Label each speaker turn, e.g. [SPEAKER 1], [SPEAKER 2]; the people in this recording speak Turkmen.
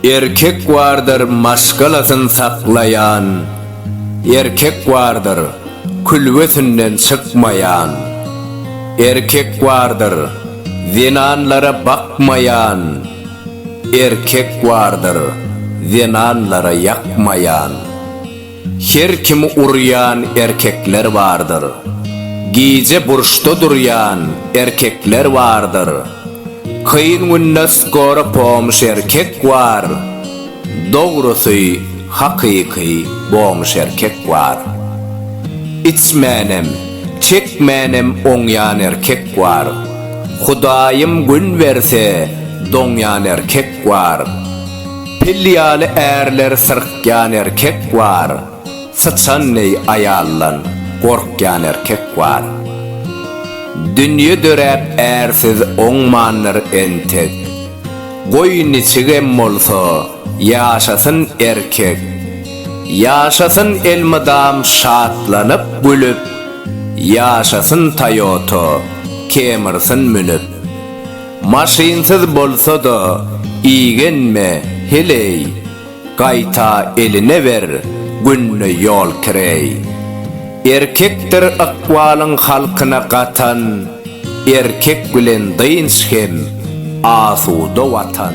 [SPEAKER 1] Erkek bardyr maşgalasyn saklaýan, Erkek bardyr külbesinden çykmaýan, Erkek bardyr zenanlara bakmaýan, Erkek bardyr zenanlara ýakmaýan. Her kimi urýan erkekler bardyr. Gije burçda durýan erkekler bardyr. Kyn günde skora pomuş erkek bar. Dogrusy hakyky bomuş erkek bar. Içmänem, çekmänem oňýan erkek bar. Hudaýym gün berse doňýan erkek bar. Pil ýaly ärler syrkýan erkek bar, syçan deý aýaldan gorkýan erkek bar. Dünýe döräp ärsiz oňmandyr entek. Goý niçigem bolsa ýaşasyn erkek. Ýaşasyn elmydam şatlanyp gülüp, ýaşasyn Toyota Camrysyn münüp. Maşynsyz bolsa-da igenme, heleý, Gaýta eline ber, günde ýol kireý. Erkekdir ykbalyň halkyna gatan, Erkek bilen dynç hem asuda Watan.